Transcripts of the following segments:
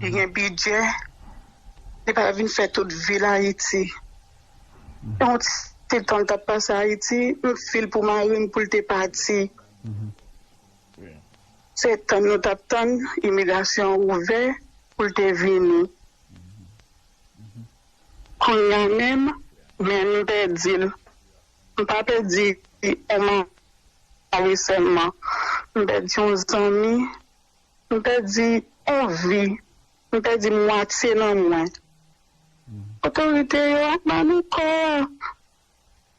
Li gen bidjè, li pa vin fè tout vil Ayiti. Gen yon ti tan l t ap pase Ayiti, m fi l pou mari m pou l te pati. Se tann nou t ap tann imigrasyon an ouvè pou l te vini. Kounye a menm, men m pèdi l. M pa pèdi yon mari sèlman, m pèdi yon zanmi. M pèdi on vi, m pèdi mwatye nan mwen. Otorite yo ap ba nou kò a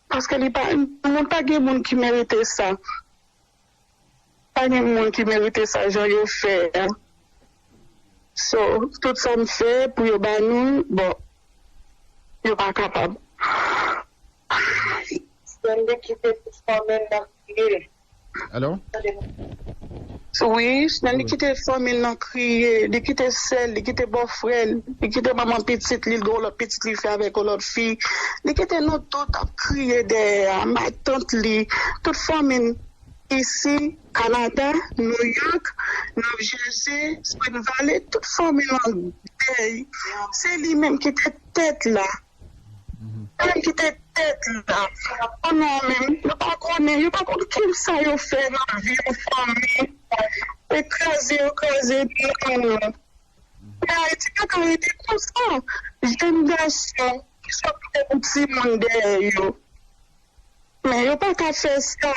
paske li pa moun pa gen moun ki merite sa pa gen moun ki merite sa jan yo fè a so tout sa m fè pou yo ba nou l bon yo pa kapab. Stanley kite fanmil nan kriye. Allo. Wi Stanley kite fanmil nan kriye li kite sèl li kite bòfrèl li kite manman pitit li li gen yon lòt pitit li fè avèk yon lòt fi li kite nou tout ap kriye dèyè a matant li tout fanmil isi Canada New York New Jersey Spring Valley tout fanmil an dèy se li menm kite tèt la. Ann kite tèt la pou nou menm yo pa konnen yo pa konn kisa yo fè nan vi pou fanmi e kraze yo kraze epi an men ayiti paka rete konsa jèn gason ki sot kite pou timoun dèyè yo. Non yo pa ka fè sa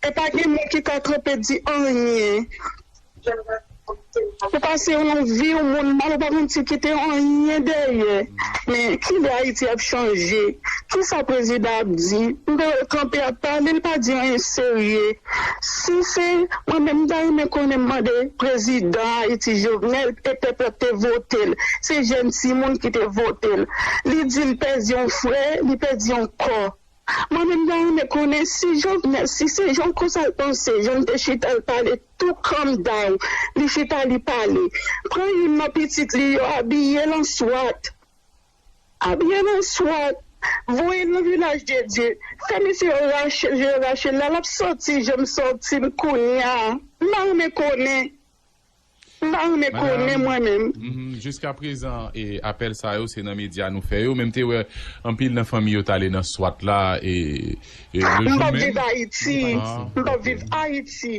e pa gen moun ki ka kanpe di anyen ou pase yon vi yon moun mal ou pa konn si kite anyen dèyè men kilè ayiti ap chanje kisa prezidan ap di m te wè l kanpe ap pale l pa di anyen serye. Si se mwen menm m ta renmen konnen m mande prezidan ayiti jovenel e pèp la ki te votel se jèn timoun ki te votel li di li pèdi yon frè li pèdi yon kò mwen menm m ta renmen konnen si jovenel si se jan konsa l panse jan l te chita l pale tou kòm daw li chita li pale pran youn nan pitit li yo abiye l an swat. A byen an swat. Voyel nan vilaj de Dye. Fè mesye yo rachel jan yo rachel la lap soti janm sotim kounya m pa renmen konnen m pa renmen konnen mwen menm. Madame, jiska prezan e apèl sa yo se nan medya nou fè yo men m te wè anpil nan fanmi yo t ale nan swat la e le jour menm. M pap viv Ayiti, m pap viv Ayiti,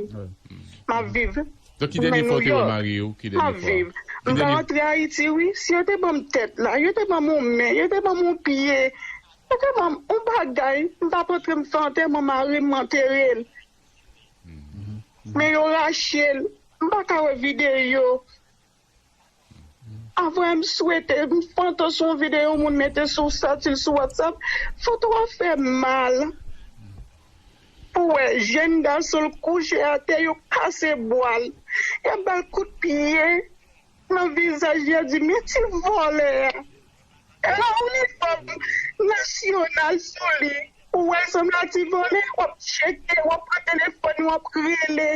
map viv. Donk ki dènye fwa ou te wè mari ou ki dènye fwa? M pa rantre ayiti wi si yo te banm tèt la yo te banm yon men yo te banm yon pye yo te banm yon bagay m tap antre m fè antèman marim m anterel men yo rachel m paka wè videyo. Avwe m swete m pantan sou yon video yon moun mete sou satil sou watsap foto a fem mal pou we jenn gason l kouche ate yo kase bwa l yap bal kout pye nan vizaj li yap di men ti vole a. E lè ou li fòm nasyonal sou li, ou wè l sanble a ti vòlè, w ap tcheke, w ap pran telefòn ou, w ap rele,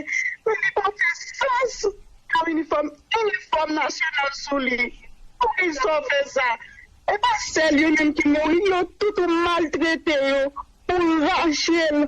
men li pa fè sans pou yon inifòm, inifòm nasyonal sou li. Pou ki sa w fè sa? E pa sèl yo menm ki mouri, yo tout ou maltrete yo, ou rache l.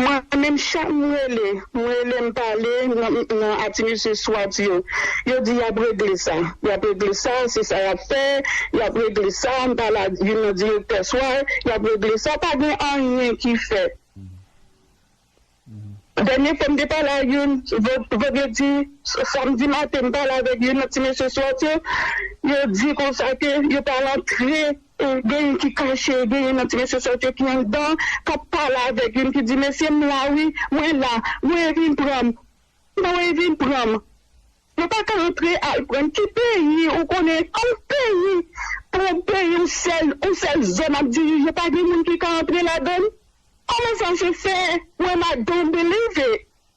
Mwen menm chak m rele m rele m pale nan ati mesye swat yo yo di yap regle sa yap regle sa se sa yap fè yap regle sa m pale ak youn nan direktè sway yap regle sa pa gen anyen ki fèt dènye fwa m te pale ak youn vandredi samdi maten m pale avèk youn nan ti mesye swat yo yo di konsa ke yo pa rantre. Genyen ki kache, genyen nan ti mesye sa yo te ki anndan kap pale avèk youn ki di mesye m la wi, mwen la, voye vin pran m, voye vin pran m. Yo pa ka antre al pran n. Ki peyi ou konnen yon peyi pou yon peyi yon sèl yon sèl zòn ap dirije pa gen moun ki ka antre ladann? Kòman sa se fè? Wen a don biliv it.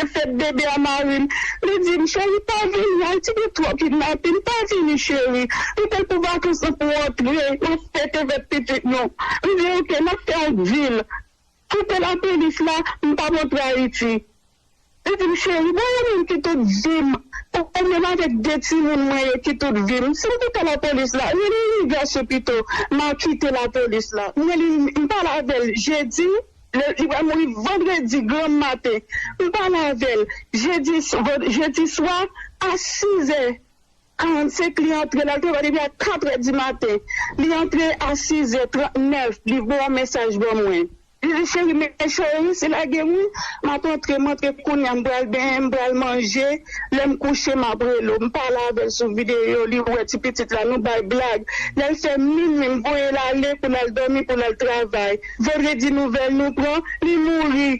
Mwen fè bebe a marim li dim cheri pa vini ayiti gen twò kidnapin pa vini cheri nou te pou vakans nan pou antre nap fete fèt pitit nou li di ok nap fè ak vil koupe lapolis la mpa montre ayiti li dim cheri bon ou menm ki tout vim ou menm avèk 2 timoun mwen yo ki tout vim sim koupe lapolis la rele rigas ou pito ma kite lapolis la mwen li mpale avèl jedi. Li pral mouri vandredi granm maten. M pale avè l jedi jedi swa a sizè karannsenk li antre l al travay depi a katrè dimaten li antre a sizè trantnèf li voye yon mesaj ban mwen li di cheri mechan yo resi lage m wi m ap antre m antre kounye a m pral benyen m pral manje lè m kouche m ap rele w m pale avè l sou videyo li wè ti pitit la nou bay blag lè l fè minwi m voye l ale pou l al dòmi pou l al travay. Vendredi nouvel nou pran li mouri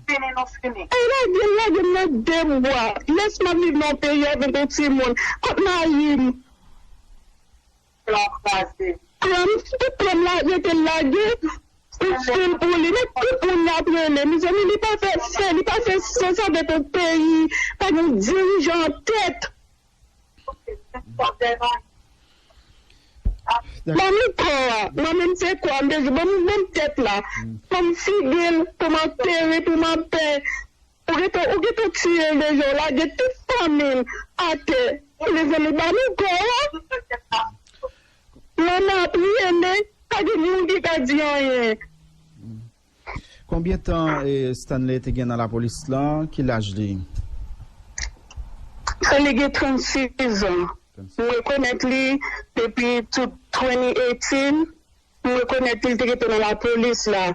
demain nou fini. Ay lagel lagem nan dem bwa. Yes map viv nan yon peyi avek yon ti moun. Kot marim. Plan kraze. Plan tout plan la rete lage ou fil pou li men tout moun lap rele mezanmi li pa fè sen li pa fè sans avek yon peyi pa gen yon dirijan an tèt. Manmi kò a manmi m se kò a m bezwen ban m ban m tèt la pou m figi l pou m antere pou m anpè ou gentan ou gentan tiye l deja ou lage tout fanmi l atè mezanmi ban nou kò a manman ap rele pa gen moun ki ka di anyen. Konbyen tan Stanley te gen nan lapolis lan? Ki laj li? Stanley gen 36 an. M rekonèt li depi tout 2018. M rekonèt li, li te gen tan nan lapolis la.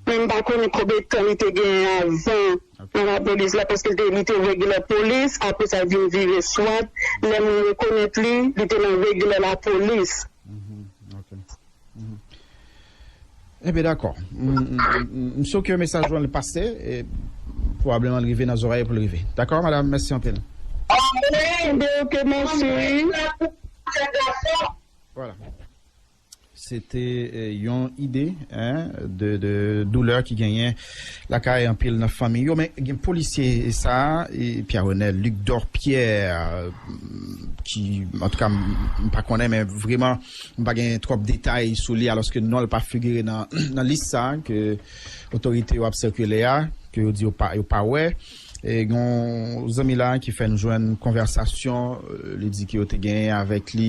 Men m pa konnen konbyen tan li te gen avan nan lapolis la paske li te regular polis apre sa l vin vire swat. Lè mwen rekonèt li, li te nan regular lapolis. Enben dakò. M sou ke mesaj ou an li pase e pwobableman li rive nan zorèy yo pou li rive. Dakò madam, mèsi anpil. Anmweyy Dew ke mèsi wi. Voilà. Se te yon ide de doulè ki genyen lakay anpil nan fanmiy yo men gen polisye sa Pierre Renel Luc Dorpierre ki antouka m pa konnen men vreman M pa gen twòp detay sou li alòske non l pa figire nan lis sa a ke otorite yo ap sikile a, ke yo di yo pa wè. Gen yon zanmi la a ki fè n jwenn konvèsasyon li di ke yo te genyen avèk li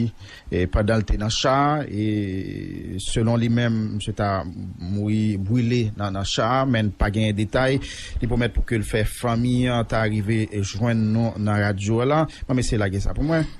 pandan l te nan cha a e selon li menm misye ta mouri brile nan cha a men pa genyen detay. Li pwomèt pou ke l fè fanmi an ta rive jwenn nou nan radyo la. Bon mesye lage sa pou mwen.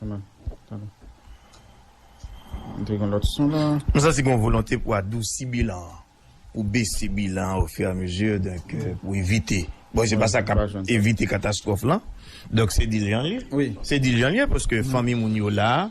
M santi gen yon volonte pou adousi bilan an, pou bese bilan an ofiramezi, donk pou evite. Bon, se pa sa k ap evite katastwòf lan. Donk se dilyan li ye. Se dilyan li ye paske fanmi moun yo la.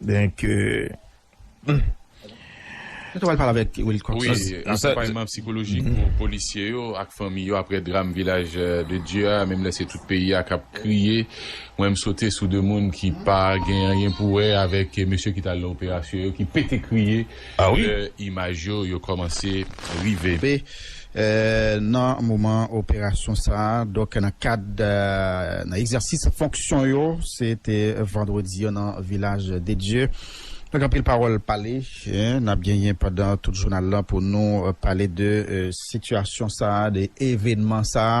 Donk euh. Nou ta pral pale avèk Wilky Cox. Wi, akonpayman psikolojik pou polisye yo ak fanmi yo aprè dram Vilaj de Dye a, menm lè se tout peyi a k ap kriye. Mwen m sote sou 2 moun ki pa gen anyen pou wè avèk mesye ki t al nan operasyon yo ki pete kriye. Lè imaj yo yo kòmanse rive. Be nan moman operasyon sa a, donk nan kad nan egzèsis fonksyon yo, se te vandredi an nan Vilaj de Dye. Donk anpil pawòl pale, n ap genyen pandan tout jounal lan pou nou pale de sitiyasyon sa a, de evenman sa a.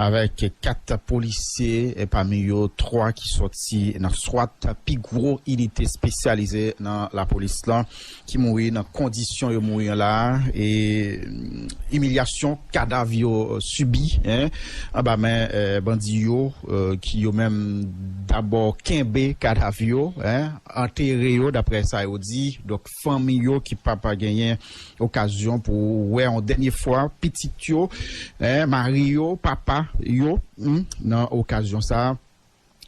Avèk 4 polisye, pami yo 3 ki sòti nan swat, pi gwo inite spesyalize nan lapolis lan, ki mouri nan kondisyon yo mouri an la a e imilyasyon kadav yo sibi anba men bandi yo ki yo menm dabò kenbe kadav yo, antere yo daprè sa yo di. Fanmi yo ki pa pa genyen okazyon pou wè yon dènye fwa pitit yo, mari yo, papa yo nan okazyon sa a.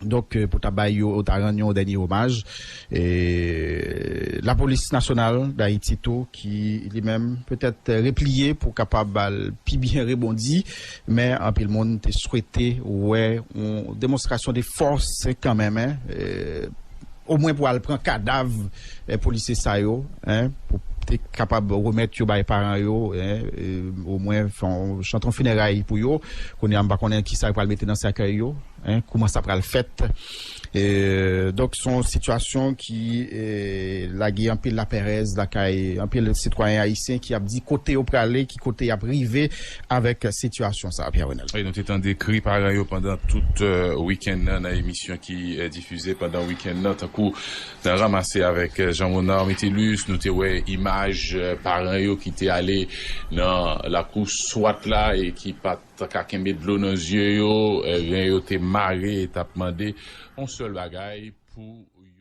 Donk pou ta bay yo, ta rann yo yon dènye omaj. Lapolis Nasyonal Dayiti tou ki li menm petèt repliye pou kapab al pi byen rebondi. Men anpil moun te swete wè yon demonstrasyon de fòs kanmenm, omwen pou al pran kadav polisye sa yo, pou te kapab remèt yo bay paran yo, omwen fè yon chanton fineray pou yo. Kounye a m pa konnen kisa yo pral mete nan sèkèy yo. Hein kouman sa pral fèt donk son sitiyasyon ki lage anpil lapèrèz lakay anpil sitwayen ayisyen ki ap di kote yo prale ki kote yap rive avèk sitiyasyon sa Pierre Renel. Wi nou te tande kri paran yo pandan tout wikenn nan nan emisyon ki difize pandan wikenn nan tankou nan ranmase avèk Jean Monard Métellus nou te wè imaj paran yo ki te ale nan lakou swat la e ki pat Tan ka kenbe dlo nan zye yo, ren yo te mare e t ap mande yon sèl bagay pou yo.